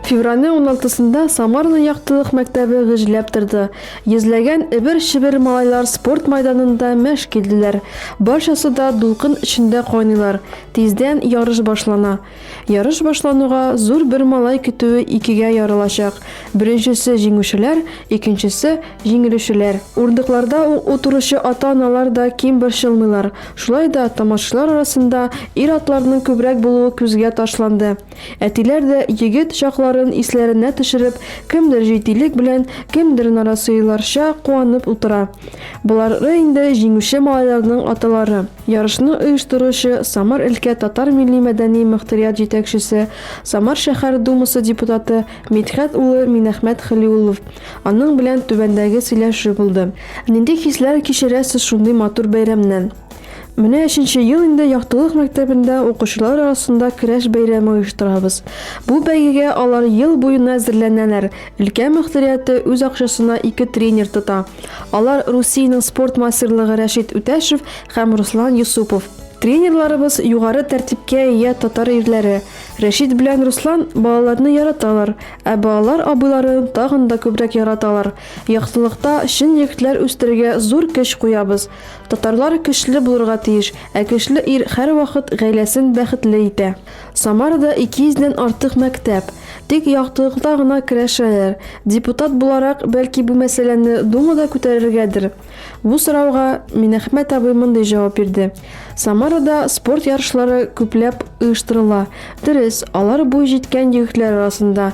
Февральнең 16-сында Самарның яктылык мәктәбе гөжләп торды. Йөзләгән эбер-шебер малайлар спорт майданында мәш килделәр. Барчасы да дулкын эчендә кайныйлар. Тиздән ярыш башлана. Ярыш башлануга зур бер малай көтүе икегә ярылачак, беренчесе, җиңүчеләр, икенчесе, җиңелүчеләр. Урындыкларда утыручы ата-аналар да ким борчылмыйлар. Шулай да тамашачылар арасында ир-атларның күбрәк булуы күзгә ташланды. Әтиләр дә егет чакларын исләренә төшереп, кемдер җитдилек белән, кемдер нарасыйларча куанып утыра. Болары инде җиңүче малайларның аталары. Ярышны оештыручы, Самар өлкә татар милли-мәдәни мөхтәрият җитәкчесе, Самар шәһәр Думасы депутаты Мидхәт улы Минәхмәт Хәлиуллов. Аның белән түбәндәге сөйләшү булды. Нинди хисләр кичерәсез шундый матур бәйрәмнән? Менә өченче ел инде Яктылык мәктәбендә укучылар арасында Керәш бәйрәме оештырабыз. Бу бәйгегә алар ел буена әзерләнәләр, өлкә мөхтәрияте үз акчасына ике тренер тота. Алар Русиянең спорт мастерлыгы Рәшит Үтәшев һәм Руслан Юсупов. Тренерларыбыз югары тәртипкә ия татар ирләре. Рәшит белән Руслан балаларны яраталар, ә балалар абыйлары тагын да күбрәк яраталар. Яктылыкта чын егетләр үстерергә зур көч куябыз. Татарлар көчле булырга тиеш, ә көчле ир һәрвакыт гаиләсен бәхетле итә. Самарада 200 дән артык мәктәп, тик яктылыкта гына керәшәләр. Депутат буларак, бәлки бу мәсьәләне Дума да күтәрергәдер? Бу сорауга Минәхмәт абый мондый җавап бирде, Самарада спорт ярышлары күпләп оештырыла, дөрес, алар буй җиткән егетләр арасында.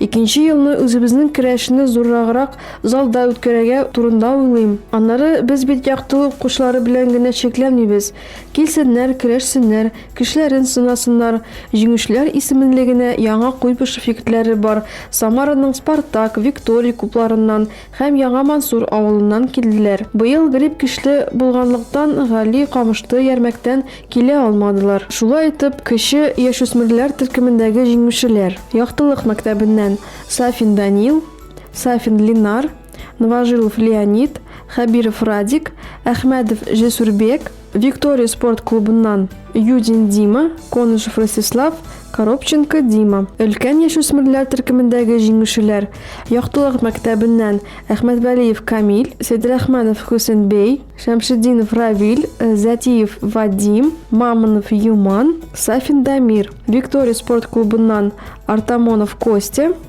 Икенче елны үзебезнең керәшне зурраграк залда үткәрергә турында уйлыйм. Аннары без бит яктылык укучылары белән генә чикләнмибез. Килсеннәр, көрәшсеннәр, көчләрен сынасыннар. Җиңүчеләр исеменлегенә Яңа Куйбышев егетләре бар. Самараның Спартак, Виктория клубларыннан һәм Яңа Мансур авылыннан килделәр. Быел грипп көчле булганлыктан, Гали Камышты Ярмәктән килә алмадылар. Шулай итеп, кече яшүсмерләр төркемендәге җиңүчеләр, Яктылык мәктәбеннән Сафин Данил, Сафин Линар, Новожилов Леонид, Хәбиров Радик, Әхмәдов Җесүрбек, Виктория спорт клубыннан Юдин Дима, Конышев Ростислав, Коробченко Дима. Өлкән яшүсмерләр төркемендәге җиңүчеләр Яктылык мәктәбеннән Әхмәтвәлиев Камил, Сәйдрахманов Хөсенбей, Шәмшетдинов Равил, Зәтиев Вадим, Мамонов Юман, Сафин Дамир. Виктория спорт клубыннан Артамонов Костя,